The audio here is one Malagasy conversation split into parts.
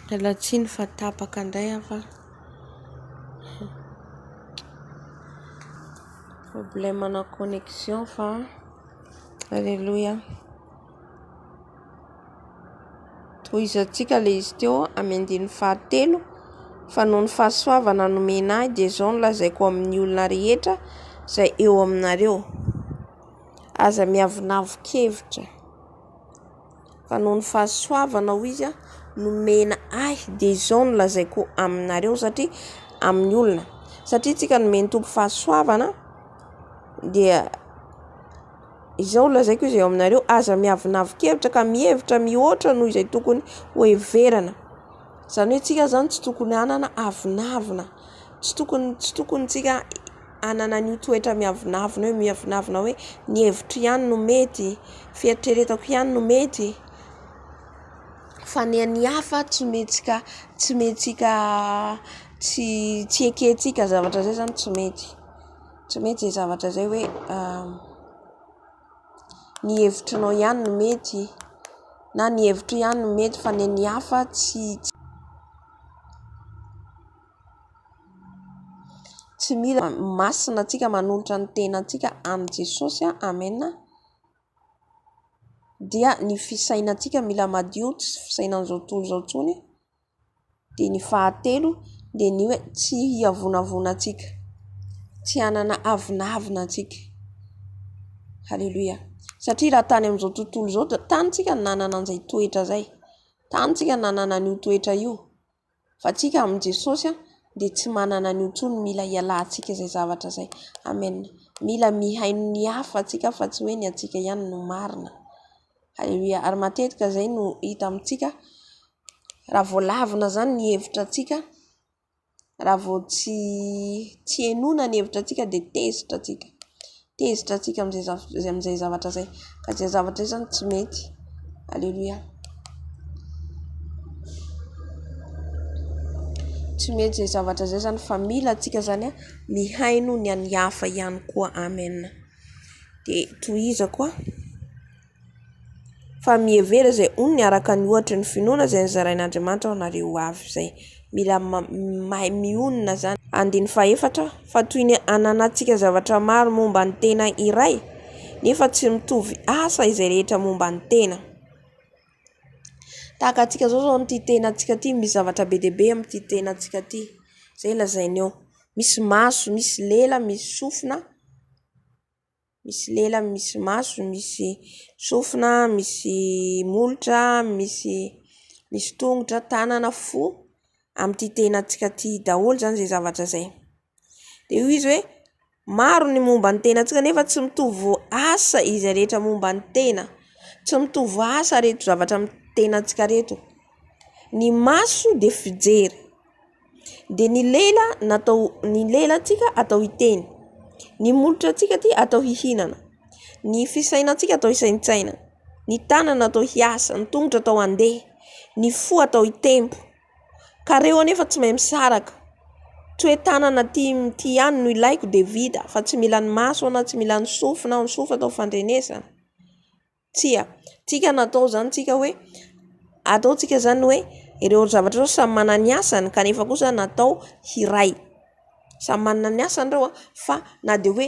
Miala tsiny fa tapaka indray aho fa problème ana connexion fa aleloia. Tohizantsika ilay izy teo amin'ny andininy fahatelo fa noho ny fahasoavana nomena ahy dia izao no lazaiko amin'ny olona rehetra izay eo aminareo. Aza miavonavon-kevitra fa noho ny fahasoavana hoy izy nomena ahy dia izao no lazaiko aminareo satria amin'ny olona satria tsika nomen'ny Tompo fahasoavana dia izao no lazaiko izy eo aminareo aza miavonavon-kevitra ka mihevitra mihoatra noho izay tokony ho heverana izany hoe tsika izany tsy tokony hanana avonavona tsy tokony tsy tokony tsika hanana an'io toetra miavonavona io, miavonavona hoe ny hevitro ihany no mety, fieritreretako ihany no mety fa ny an'ny hafa tsy mihetsika tsy mihetsika tsy tsy ekentsika zavatra izay izany tsy mety, tsy mety izay zavatra izay hoe ny hevitrinao ihany no mety na ny hevitro ihany no mety fa ny an'ny hafa tsy. Tsy mila masina antsika manolotra ny tenantsika amin'i Jesosy Amen dia ny fisainantsika mila madio tsy fisainan'izao tontolo izao intsony dia ny fahatelo dia ny hoe tsy hiavonavona antsika tsy hanana avonavona antsika haleloia satria raha tany amin'izao tontolo izao dia tany isika no nanana an'izay toetra izay tany isika no nanana an'io toetra io Fa antsika amin'i Jesosy dia tsy manana an'io intsony, mila hialantsika izay zavatra izay. Amen. Mila mihaino ny hafa tsika fa tsy hoe ny antsika ihany no marina. Alléluia. Ary matetika izay no hita amintsika raha vao lavina izany ny hevitra antsika, raha vao tsy tsy henoina ny hevitra antsika dia tezitra tsika. Tezitra antsika amin'izay zavatra izay, ka izay zavatra izay zany tsy mety. Aleloia. Tsy mety izay zavatra izay zany fa mila antsika zany a mihaino ny an'ny hafa ihany koa. Amen. Dia tohizako a. Fa mihevera izay onony araka ny ohatry ny finoana izay nozarain'Andriamanitra ho anareo ho avy izay. Mila mahay mionona izany. Andininy fahefatra, Fa toy ny ananantsika zavatra maro momba ny tena iray, nefa tsy mitovy asa izay rehetra momba ny tena. Tahaka antsika izao izao amin'ity tenantsika ity, misy zavatra be dia be amin'ity tenantsika ity. Izay lazainy eo. Misy maso, misy lela, misy sofina. Misy lela, misy maso, misy sofina, misy molotra, misy misy tongotra, tanana, fo amin'ity tenantsika ity daholo izany izay zavatra izay. Dia hoy izy hoe maro ny momba ny tenantsika nefa tsy mitovy asa izay rehetra momba ny tena. Tsy mitovy asa ireto zavatra amin'ny tenantsika ireto. Ny maso dia fijery. dia ny lela natao ny lela antsika atao hiteny ny molotra antsika aty atao hihinana ny fisaina antsika atao hisaintsaina ny tanana atao hiasa ny tongotra atao handeha ny fo atao hitempo ka reo anefa tsy mahay misaraka tsy hoe tanana aty mty ihany no ilaiko dia vita fa tsy mila ny maso na tsy mila ny sofina ny sofina atao fandrenesana Tsia. Tsika natao izany tsika hoe ataontsika izany hoe ireo zavatra ireo samy manana ny asany kanefa kosa natao hiray. Samy manana ny asany ireo fa na dia hoe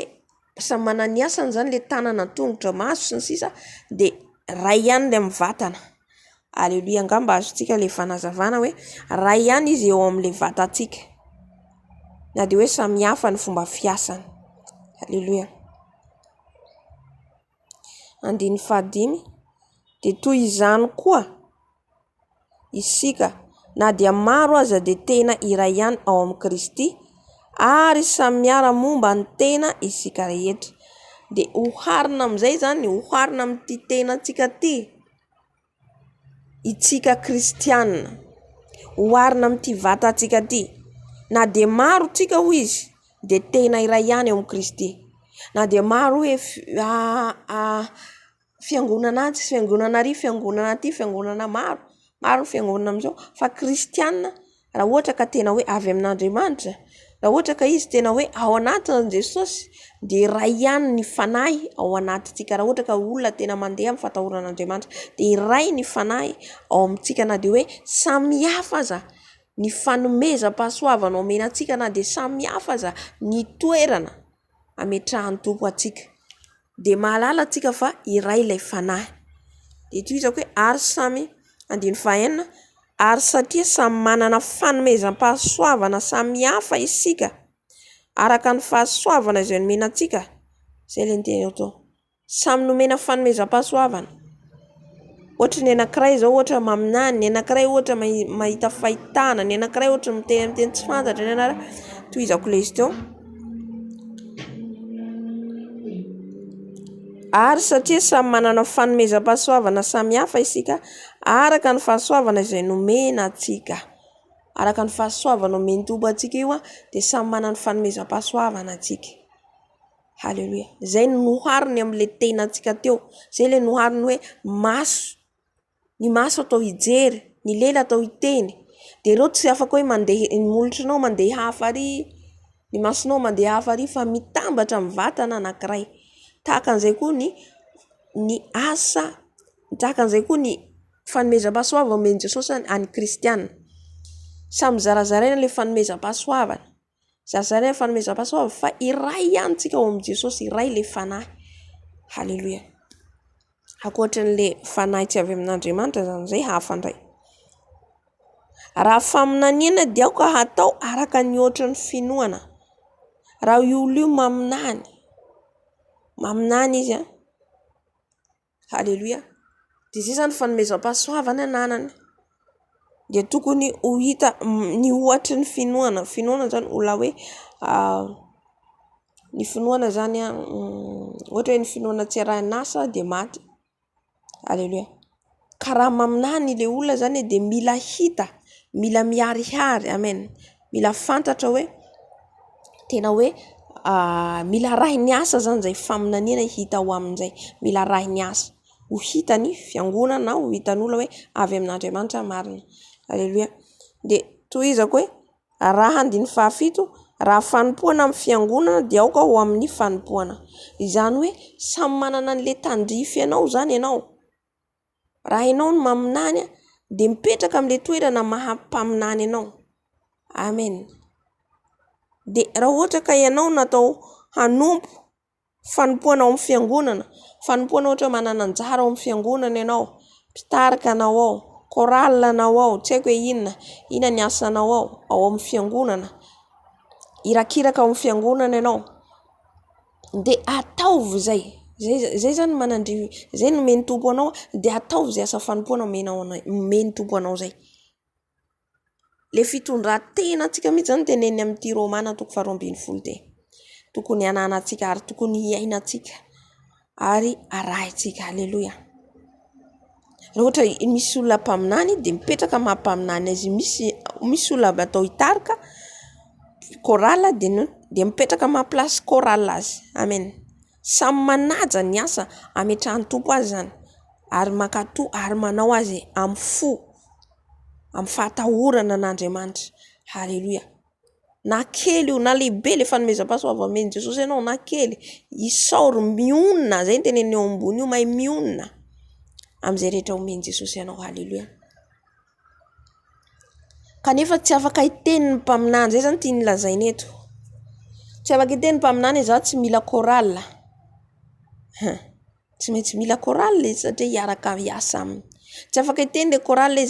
samy manana ny asany izany ilay tanana, tongotra, maso sy ny sisa dia iray ihany ilay amin'ny vatana. Aleloia angamba azontsika ilay fanazavana hoe iray ihany izy eo amin'ilay vatantsika na dia hoe samy hafa ny fomba fiasany. Aleloia. andininy fahadimy dia toy izany koa isika na dia maro aza dia tena iray ihany ao amin'i Kristy ary samy miara-momba ny tena isika rehetra dia oharina amin'izay izany, oharina amin'ity tenantsika ity. Isika kristiana. Oharina amin'ity vatantsika ity. Na dia maro isika hoy izy dia tena iray ihany ao amin'i Kristy. Na dia maro hoe fiangonana atsy, fiangonana ary, fiangonana aty, fiangonana maro, maro ny fiangonana amin'izao fa kristiana. raha ohatra ka tena hoe avy amin'Andriamanitra, raha ohatra ka izy tena hoe ao anatin'i Jesosy dia iray ihany ny Fanahy ao anatintsika, raha ohatra ka olona tena mandeha amin'ny fatahoran'Andriamanitra dia iray ny Fanahy ao amintsika na dia hoe samy hafa aza ny fanomezam-pahasoavana omena antsika na dia samy hafa aza ny toerana. ametrahan'ny Tompo ho antsika dia mahalala antsika fa iray ilay Fanahy. Dia toy izao koa hoe ary samy, andininy fahaenina, ary satria samy manana fanomezam-pahasoavana samy hafa isika araka ny fahasoavana izay nomena antsika, izay ilay niteny ato. Samy nomena fanomezam-pahasoavana. Ohatra ny anankiray izao ohatra maminany, ny anankiray ohatra mahita fahitana, ny anankiray ohatra miteny amin'ny teny tsy fantatra, ny anankiray tohizako lesy teo. Ary satria samy manana fanomezam-pahasoavana samihafa isika araka ny fahasoavana izay nomena antsika. Araka ny fahasoavana omen'ny Tompo antsika io dia samy manana ny fanomezam-pahasoavana antsika. Haleloia. Izay no nohariny amin'ilay tenantsika teo. Izay ilay nohariny hoe maso. Ny maso atao hijery, ny lela atao hiteny. Dia ireo tsy afaka hoe mandeha, ny molotranao mandeha hafa ary, ny masonao mandeha hafa ary fa mitambatra amin'ny vatana anankiray. Tahaka an'izay koa ny ny asa, tahaka an'izay koa ny fanomezam-pahasoavana omen'i Jesosy an'ny kristiana. Samy zarazaraina ilay fanomezam-pahasoavana. Zary zany ny fanomezam-pahasoa ho avy fa iray ihany tsika ao amin'i Jesosy, iray ilay Fanahy. Haleloia. Ankoatry an'ilay Fanahy tsy avy amin'Andriamanitra izany izay hafa indray. Raha faminaniana dia aoka hatao araka ny ohatry ny finoana. Raha io olona io maminany, maminany izy an. Aleloia! Dia izay izany fanomezam-pahasoavana ananany. Dia tokony ho hita ny ohatry ny finoana. Finoana izany olona hoe ny finoana izany ohatra hoe ny finoana tsy arahin'asa dia maty. Aleloia! Karama aminà ny ilay olona izany dia mila hita, mila miharihary. Amen. mila fantatra hoe tena hoe mila arahy ny asa izany izay faminaniana hita ao aminy izay. Mila arahy ny asa ho hitan'ny fiangonana ho hitan'olona hoe avy amin'Andriamanitra marina. Aleloia. Dia tohizako hoe arahy andininy fahafito, raha fanompoana amin'ny fiangonana dia aoka ho amin'ny fanompoana. Izany hoe samy manana an'ilay tandrify anao izany ianao. Raha ianao no maminany dia mipetraka amin'ilay toerana maha mpaminany anao. Amen. Dia raha ohatra ka ianao no atao hanompo fanompoana ao amin'ny fiangonana, fanompoana ohatra hoe manana anjara ao amin'ny fiangonana ianao, mpitarika anao ao, chorale anao ao, tsy haiko hoe inona, inona ny asanao ao amin'ny fiangonana, irakiraka ao amin'ny fiangonana ianao. dia ataovy izay izay izay izany manandria izay no omen'ny Tompo anao dia ataovy izay asa fanompoana omenao anay omen'ny Tompo anao izay ilay fitondran-tena antsika mihintsy izany teneniny amin'ity romana toko faharoa ambin'ny folo ity tokony hananantsika ary tokony hiainantsika ary arahintsika aleloia Raha ohatra misy olona mpaminany dia mipetraka ny maha mpaminany azy io. Misy misy olona atao hitarika chorale dia ny hoe dia mipetraka amin'ny maha place chorale azy. Amen. Samy manaja ny asa ametrahan'ny Tompo azy izany ary mankatò ary manao azy amin'ny fo, amin'ny fahatahorana an'Andriamanitra. Haleloia. Na kely io na lehibe ilay fanomezam-pahasoavan'i Jesosy anao na kely, isaory mionona, izay no teneniny eo ambony io, mahay mionona amin'izay rehetra omen'i Jesosy anao. Haleloia. Kanefa tsy afaka hiteny ny mpaminany, izay izany no tiany lazaina eto. Tsy afaka hiteny ny mpaminany hoe izaho tsy mila chorale. Tsy maintsy mila chorale izy satria hiaraka hiasa aminy. Tsy afaka hiteny ilay chorale hoe izay.